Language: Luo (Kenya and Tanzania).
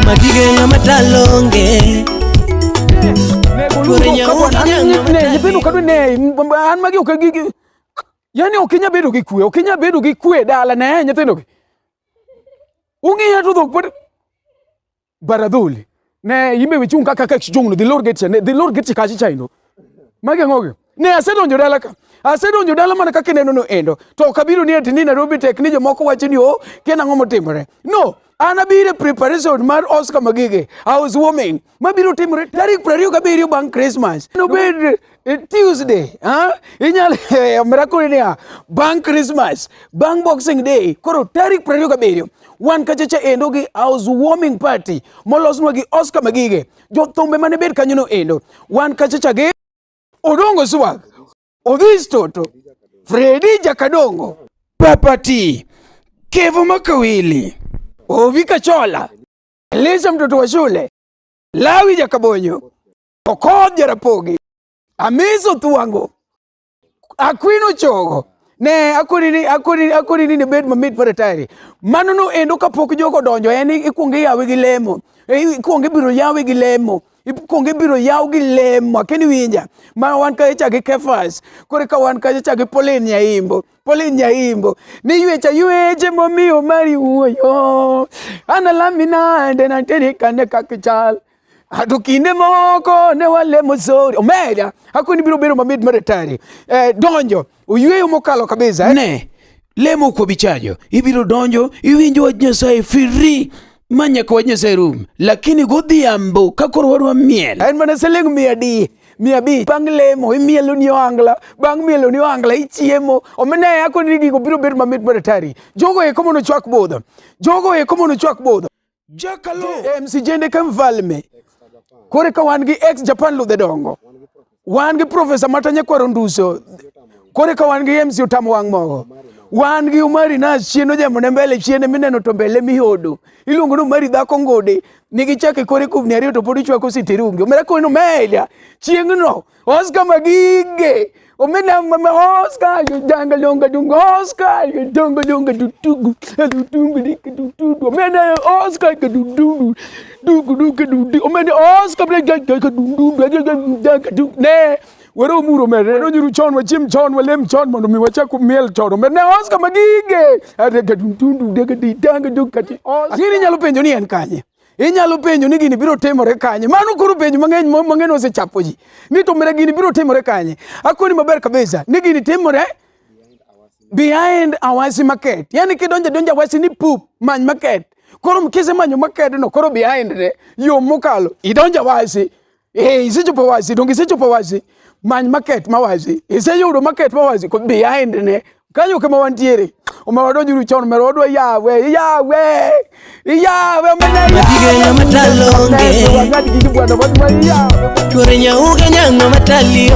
Madige ng'ama talonge Kore nyawo Nyithindo kadwa ne an magi ok gi Yani ok inya bedo gi kwe, ok inya bedo gi kwe dala ne nyithindo gi. Ung'iya to dhok pod baradhuli. Ne yimbe wichung kaka kaka chijong no the lord get ne the lord get kachi chaino. Magi ngogi. Ne asedonjo dala ka. Asedonjo dala mana kaka ineno no endo. To ok abiro ni ati ni Nairobi tek ni jomoko wacho ni oh, kien ang'o motimore. No, an abiro e preparation mar Oscar Magige, house warming, mabiro timore tarik 27 bang' Christmas. Nobed eh, Tuesday, ha? Inyalo eh, miracle ni bang' Christmas, bang' Boxing Day, koro tarik 27 wan kachacha endo gi house warming party molosnwa gi Oscar Magige. Jothumbe mane bed kanyono endo. Wan kachacha gi Odongo Swag, Odhis Toto, Fredi Jakadongo, Papati, Kevo Makawili, Ovika Chola, Elisa mtoto wa shule, Lawi Jakabonyo, Okoth Jarapogi, Amiso Thuango, Akwino Chogo ne akoni ni akoni akoni ni bed mamit mar tayari mano no endo kapok jogo donjo en ikuongo yawe gi lemo ikuongo ibiro yawe gi lemo ikwongo ibiro yaw gi lemo akia ni winja ma wan kacha cha gi Kefas koro ka wan kacha cha gi Pauline Nyaimbo Pauline Nyaimbo ni ywecha yweche momiyo mari wuoyo analami nade nanteni kane kakichal to kinde moko ne walemo sori omeda hakoni biro bedo mamit mar atari eh, donjo Oyweyo mokalo kabisa eh? Ne, lemo kwa bichajo, ibiro donjo, iwinjo wach Nyasaye firi ma nyaka wach Nyasaye rum. Lakini godhiambo ka koro wadwa miel. En mana siling mia di mia abich bang' lemo imielo ni ohangla bang' mielo ni ohangla ichiemo omena yako ni gigo biro bedo mamit mar atari jogo eko mondo chwak budho jogo eko mondo chwak budho JMC jende ka mfalme kore ka wan gi ex Japan ludhe dongo wan gi profesa matanya kwaro nduso kore ka wan gi MC otamo wang' mogo wan gi umari na chieno jambo ne mbele chiene mineno to mbele mihodo iluongo ni umari dhako ngode nigi chake kore kubni ariyo to pod ichwako siterungi omera kono meja chieng'no Oscar Magige. Omena mama Oscar, you danga longa dunga Oscar, you danga longa dutugu, dutugu dika dutugu. Omena Oscar ka dutugu, dugu duka dutugu. Omena Oscar bla danga ka dutugu, danga dutugu. Ne, were omuro mere, were onyuru chon, wachim chon, walem chon, mondo mi wachak miel chon. Omena Oscar magige, adega dutugu, dega danga duka. Oscar, nini nyalo penjo ni en kanye? Inyalo penjo ni gini biro timore kanye? Mano koro penjo mang'eny mang'eny osechapo ji. Ni to mira gini biro timore kanye? Akoni maber kabisa ni gini timore behind Awasi market. Yani kidonje donje Awasi ni pup many market. Koro mkise manyo market no koro behind ne yo mokalo idonje Awasi Eh, isechopo wasi, donge isechopo wasi. Many market ma wasi. Iseyudo market ma wasi ko behind ne. Kanyo kama wantiere. Umewadonjuru chon mero odwa yawe, yawe. Yawe mana yawe. Matigenya matalonge. Tuore nyauga nyango matalionge.